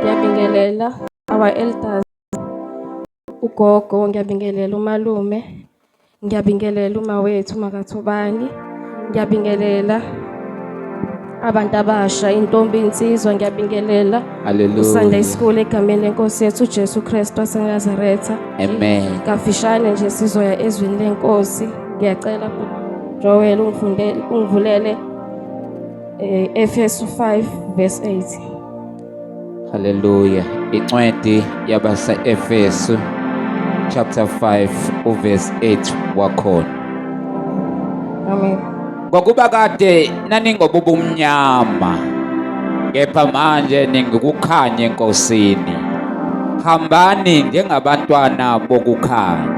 ngiyabingelela our elders ugogo ngiyabingelela umalume ngiyabingelela uma wethu makathobani ngiyabingelela abantu abasha intombi insizwa ngiyabingelela usanda isikole egameni lenkosi yethu ujesu kristu wasenazaretha amen kafishane nje sizoya ezwini lenkosi ngiyacela joel ungivulele Eh, Efesu 5 verse 8. Hallelujah. Incwadi yabasa Efesu chapter 5 uverse 8 wakhona. Amen. Ngokuba kade naningobubumnyama kepha manje ningikukhanye enkosini. Hambani njengabantwana bokukhanya.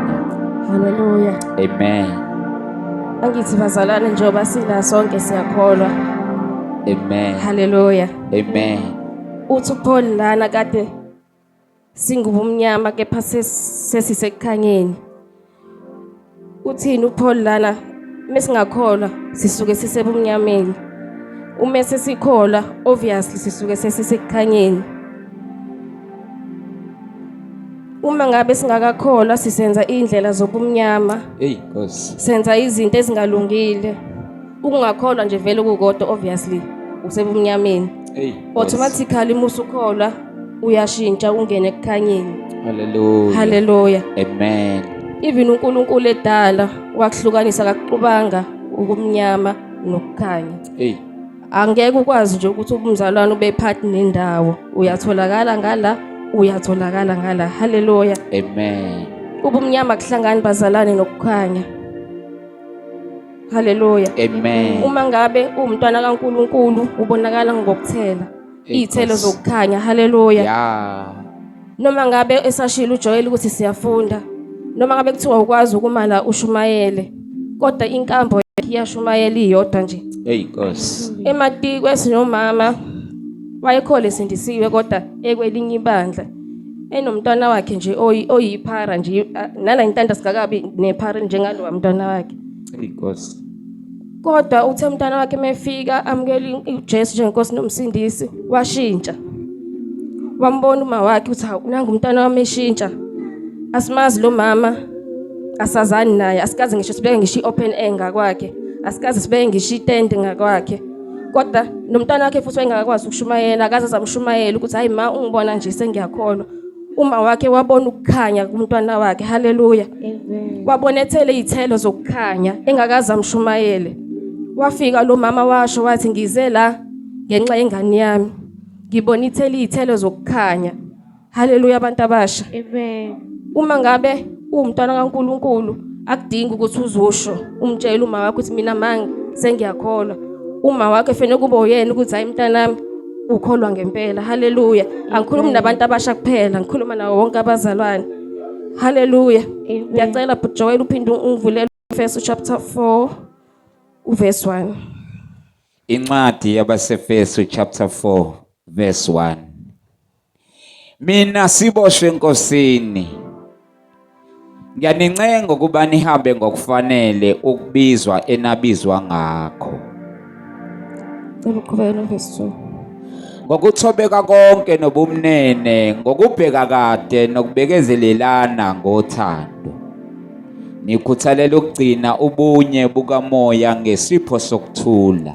Hallelujah. Amen. Angithi bazalwane njengoba sila sonke siyakholwa. Amen. Hallelujah. Amen. Uthi Paul lana kade singubumnyama kepha sesisekukhanyeni. Uthini uPaul lana mesingakholwa sisuke sisebumnyameni. Uma sesikholwa obviously sisuke sesisekukhanyeni. Uma ngabe singakakholwa sisenza indlela zobumnyama. Hey Nkosi. Senza izinto ezingalungile. Ukungakholwa nje vele kukodwa obviously usebumnyameni. Hey. Automatically musukholwa uyashintsha ungene ekukhanyeni. Hallelujah. Hallelujah. Amen. Even uNkulunkulu edala wakuhlukanisa akakuqubanga ukumnyama nokukhanya. Hey. angeke ukwazi nje ukuthi umzalwane ube part nendawo uyatholakala ngala uyatholakala ngala haleluya amen ubumnyama kuhlangani bazalane nokukhanya haleluya amen uma ngabe uwumntwana kaNkuluNkulu ubonakala ngokuthela iy'thelo zokukhanya haleluya ya noma ngabe esashilo uJoel ukuthi siyafunda noma ngabe kuthiwa ukwazi ukumala ushumayele kodwa inkambo yakhe iyashumayela iyodwa nje eyi nkosi ematikwe sinomama wayekhole esindisiwe kodwa ekwelinye ibandla enomntwana wakhe nje oyi- oyiphara nje a- nala ngintanda sikakabi nephara njengalowa mntwana wakhe eyi nkosi kodwa uthe umntana wakhe mefika amukela uJesu njengenkosi nomsindisi washintsha wambona uma wakhe uthi hawu nangu umntana wami eshintsha asimazi lo mama asazani naye asikaze ngisho sibeke ngisho i-open air ngakwakhe asikaze sibeke ngisho itende ngakwakhe kodwa nomntana wakhe futhi wayengakakwazi ukushumayela akaze azamshumayela ukuthi hayi ma ungibona nje sengiyakholwa Uma wakhe wabona ukukhanya kumntwana wakhe. Haleluya. Wabonethele izithelo zokukhanya engakaza mshumayele. Wafika lo mama washo wathi ngize la ngenxa yengane yami. Ngibona ithele izithelo zokukhanya. Haleluya abantu abasha. Amen. Uma ngabe uwumntwana kaNkuluNkulu akudingi ukuthi uzusho umtshele uma wakho ukuthi mina mangi sengiyakholwa. Uma wakhe fanele kube uyena ukuthi hayi mntanami ukholwa ngempela haleluya angikhulumi nabantu abasha kuphela ngikhuluma nawo wonke abazalwane haleluya ngiyacela bhuti joel uphinde ungivulele efeso chapter 4 uverse 1 incwadi yabasefeso chapter 4 verse 1 Mina siboshwe enkosini. Ngiyanincenga ukuba nihambe ngokufanele ukubizwa enabizwa ngakho. Cela uqhubeke novesi 2. Ngokuthobeka konke nobumnene, ngokubheka kade nokubekezelelana ngothando. Nikhuthalela ukugcina ubunye bukamoya ngesipho sokuthula.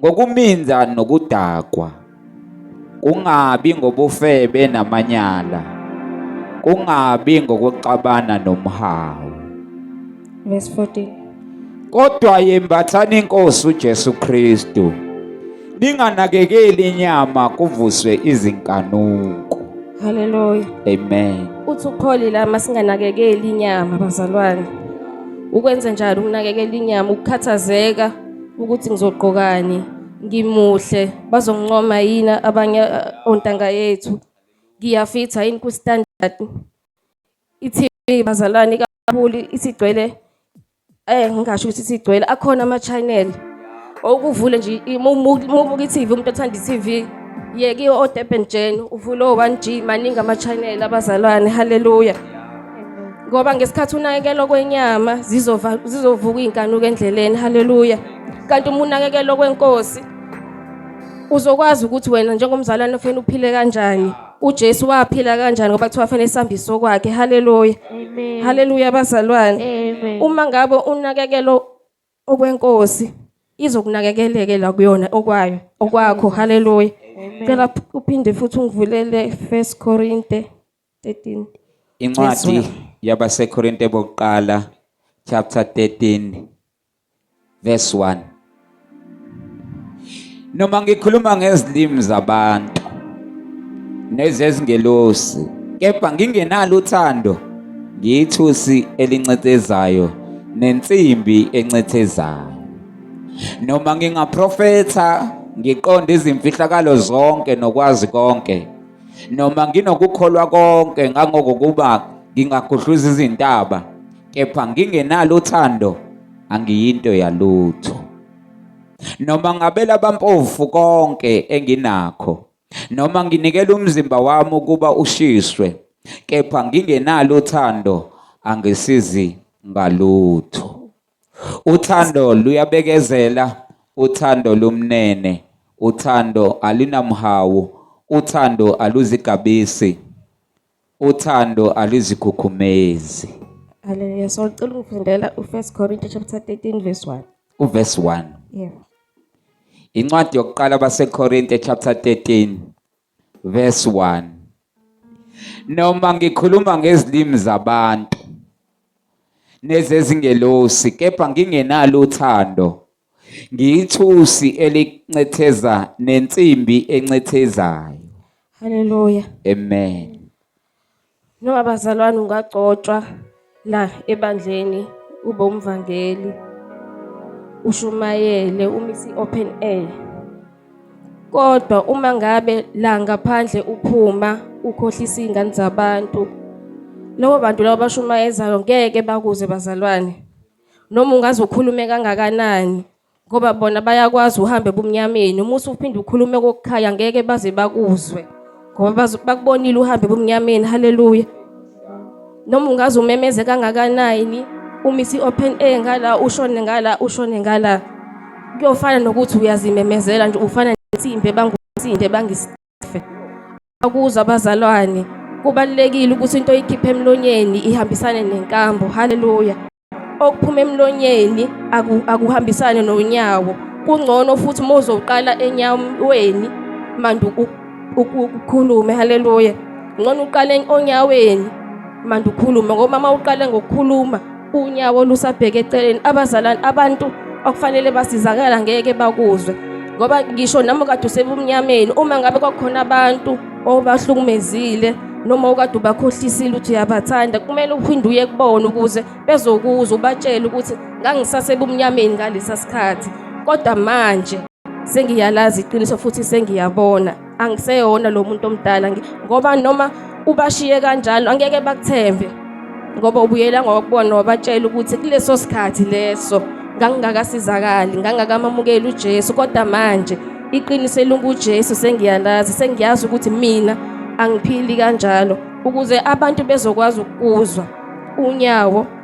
ngokuminza nokudakwa, kungabi ngobufebe namanyala, kungabi ngokuxabana nomhawu. Verse 14. Kodwa yembathani inkosi uJesu Kristu. Ninganakekeli inyama kuvuswe izinkanuko. Hallelujah. Amen. Uthi ukupholile ama singanakekeli inyama bazalwane. Ukwenze njalo ukunakekela inyama ukukhathazeka ukuthi ngizogqokani ngimuhle bazongincoma yini abanye uh, ontanga yethu ngiyafitha yini kustandard ithi bazalwane kakhulu isigcwele eh ngingasho ukuthi isigcwele akhona ama channel okuvule nje umubuka iTV umuntu othanda iTV yeke o-Durban Gen uvule o-1G maningi ama channel abazalwane haleluya ngoba ngesikhathi unakekelo kwenyama zizova zizovuka izinkanuko endleleni haleluya kanti uma unakekelo kwenkosi uzokwazi ukuthi wena njengomzalwane ufuna uphile kanjani uJesu waphila kanjani ngoba kuthiwa fanele isambiso kwakhe haleluya amen haleluya bazalwane amen uma ngabe unakekelo okwenkosi izokunakekeleke la kuyona okwayo okwakho haleluya cela uphinde futhi ungivulele 1 Korinte 13. Incwadi Yes, yabaseKorinte bokuqala chapter 13 verse 1. Noma ngikhuluma ngezilimi zabantu nezezingelosi kepha ngingenalo uthando ngiyithusi elincethezayo nensimbi encethezayo. Noma ngingaprofetha ngiqonde izimfihlakalo zonke nokwazi konke Noma nginokukholwa konke ngangokokuba ngingagudluza izintaba, kepha ngingenalo uthando angiyinto yalutho. Noma ngabela abampofu konke enginakho, noma nginikela umzimba wami ukuba ushiswe, kepha ngingenalo uthando angisizi ngalutho. Uthando luyabekezela, uthando lumnene, uthando alinamhawu, uthando aluzigabisi, uthando alizikhukhumezi. Haleluya. So ngicela ungifundela u-First Corinthians chapter 13 verse 1. Uverse 1. Yeah. Incwadi yokuqala baseKorinte chapter 13 Verse 1 Noma ngikhuluma ngezilimi zabantu nezezingelosi kepha ngingenalo uthando ngiyithusi elincetheza nensimbi encethezayo. Haleluya. Amen. Noma bazalwane ungagcotshwa la ebandleni ube umvangeli ushumayele umisi open air kodwa uma ngabe la ngaphandle uphuma ukhohlisa izingane zabantu lobo bantu labo bashumayezayo ngeke bakuze bazalwane noma ungaze ukhulume kangakanani ngoba bona bayakwazi uhambe ebumnyameni uma usuphinde ukhulume kokukhaya ngeke baze bakuzwe ngoba bakubonile uhambe ebumnyameni haleluya noma ungaze umemeze kangakanani umisi open air ngala ushone ngala ushone ngala kuyofana nokuthi uyazimemezela nje ufana nensimbi ebangunsimbi ebangisi afe akuza abazalwane kubalulekile ukuthi into oyikhipha emlonyeni ihambisane nenkambo haleluya okuphuma emlonyeni akuhambisane nonyawo kungcono futhi uma uzoqala enyaweni manje ukhulume haleluya ngcono uqale onyaweni manje ukhulume ngoba uma uqale ngokukhuluma unyawo lusabheke eceleni abazalwane abantu okufanele basizakala ngeke bakuzwe ngoba ngisho nami kade usebumnyameni uma ngabe kwakhona abantu obahlukumezile noma okade ubakhohlisile ukuthi uyabathanda kumele uphinde uye kubona ukuze bezokuzwa ubatshele ukuthi ngangisasebumnyameni ngalesa sikhathi kodwa manje sengiyalazi iqiniso futhi sengiyabona angiseyona lo muntu omdala ngoba noma ubashiye kanjalo angeke bakuthembe ngoba ubuyela ngokubona wabatshela ukuthi kuleso sikhathi leso ngangingakasizakali ngangakamamukeli uJesu kodwa manje iqiniso elinguJesu sengiyalazi sengiyazi ukuthi mina angiphili kanjalo ukuze abantu bezokwazi ukuzwa unyawo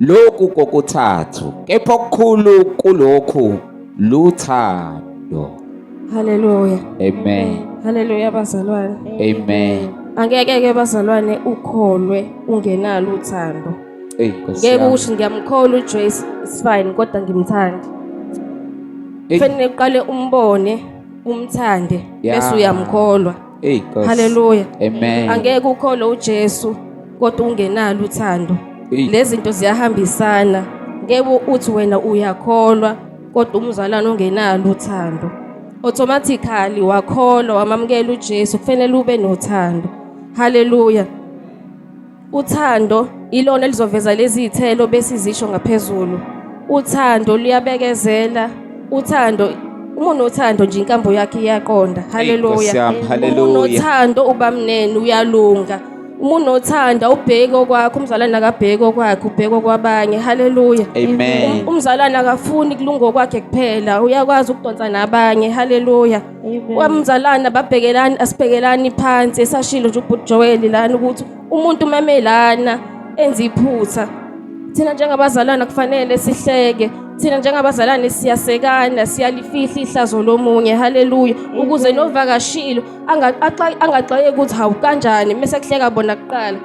Lokhu kokuthathu, kepha okukhulu kulokhu luthando. Haleluya. Amen. Haleluya bazalwane. Amen. Angeke ke bazalwane ukholwe ungenalo uthando. Ey Nkosi. Ngeke ukuthi ngiyamkhola uJoyce is fine kodwa ngimthandi. Kufanele uqale umbone umthande bese uyamkholwa. Hey Nkosi. Hallelujah. Amen. Angeke ukhole uJesu kodwa ungenalo uthando. Hey. Lezinto ziyahambisana. Ngeke uthi wena uyakholwa kodwa umzalwane ongenalo uthando. Automatically wakholwa wamamukela uJesu kufanele ube nothando. Hallelujah. Uthando ilona elizoveza lezi zithelo besizisho ngaphezulu. Uthando luyabekezela. Uthando uma unothando nje inkambo yakhe iyaqonda. Haleluya. Uma unothando ubamnene uyalunga. Uma unothanda ubheke okwakho umzalwane akabheke okwakhe ubheke okwabanye. Haleluya. Amen. Um, umzalwane akafuni kulunga okwakhe kuphela uyakwazi ukudonsa nabanye. Haleluya. kwamzalana babhekelani asibhekelani phansi esashilo nje ubhuti Joel lana ukuthi umuntu umeme lana enze iphutha thina njengabazalwana kufanele sihleke thina njengabazalwane siyasekana siyalifihla ihlazo lomunye haleluya ukuze novakashilo angaxwayeki ukuthi hawu kanjani mese kuhleka bona kuqala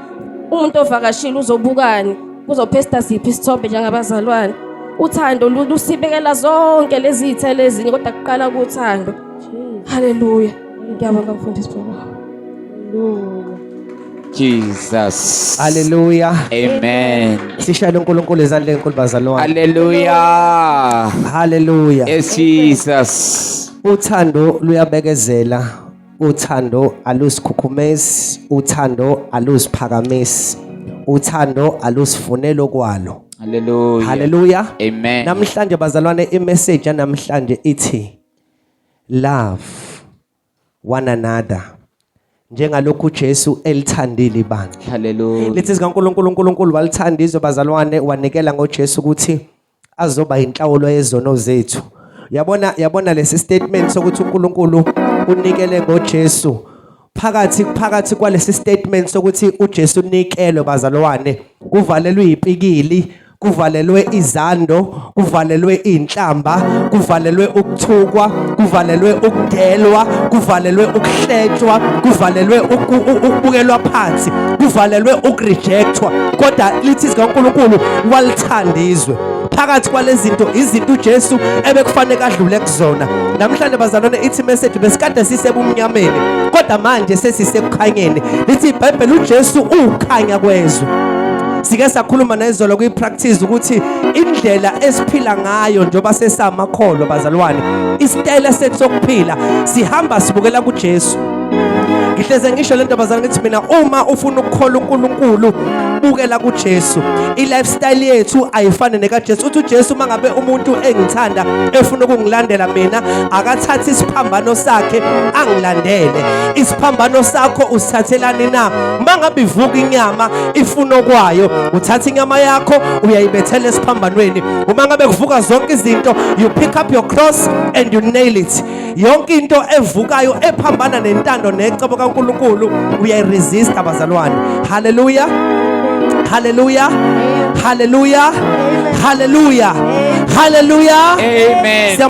umuntu ovakashile uzobukani Uzophesta siphi isithombe njengabazalwane? Uthando lusibekela zonke lezi zithelo ezinye kodwa kuqala kuthando. Haleluya. Ngiyabonga mfundisi Baba. Haleluya. Jesus. Hallelujah. Amen. Sishayele uNkulunkulu izandla enkulu bazalwane. Hallelujah. Hallelujah. Yes Jesus. Uthando luyabekezela uthando alusikhukhumezi uthando alusiphakamisi uthando alusifunelo kwalo haleluya haleluya amen namhlanje bazalwane imessage yanamhlanje ithi love one another njengalokhu uJesu elithandile ibandla haleluya lithi zikaNkuluNkulu uNkulunkulu walithanda izwe bazalwane wanikela ngoJesu ukuthi azoba inhlawulo yezono zethu yabona yabona lesi statement sokuthi uNkulunkulu unikele ngoJesu phakathi phakathi kwalesi statement sokuthi uJesu unikelo bazalwane kuvalelwe ipikili kuvalelwe izando kuvalelwe inhlamba kuvalelwe ukuthukwa kuvalelwe ukudelwa kuvalelwe ukuhletshwa kuvalelwe ukubukelwa phansi kuvalelwe ukurejectwa kodwa lithi zikaNkulunkulu walithanda izwe phakathi kwalezinto izinto uJesu ebekufanele adlule kuzona namhlanje bazalwane ithi message besikade sisebumnyameni kodwa manje sesisekukhanyeni lithi iBhayibheli uJesu ukhanya kwezwe sike sakhuluma nezolo kwi-practice ukuthi indlela esiphila ngayo njengoba sesamakholwa bazalwane isitayela sethu sokuphila sihamba sibukela kuJesu ngihleze ngisho le ntombazane ngithi mina uma ufuna ukukhola uNkulunkulu bukela kuJesu i-lifestyle yethu ayifane nekaJesu uthi uJesu uma ngabe umuntu engithanda efuna ukungilandela mina akathathe isiphambano sakhe angilandele isiphambano sakho usithathelani na uma ngabe ivuka inyama ifuno kwayo uthatha inyama yakho uyayibethela esiphambanweni uma ngabe kuvuka zonke izinto you pick up your cross and you nail it yonke into evukayo ephambana nentando necebo kaNkuluNkulu uyayiresist abazalwane haleluya haleluya haleluya haleluya haleluya amen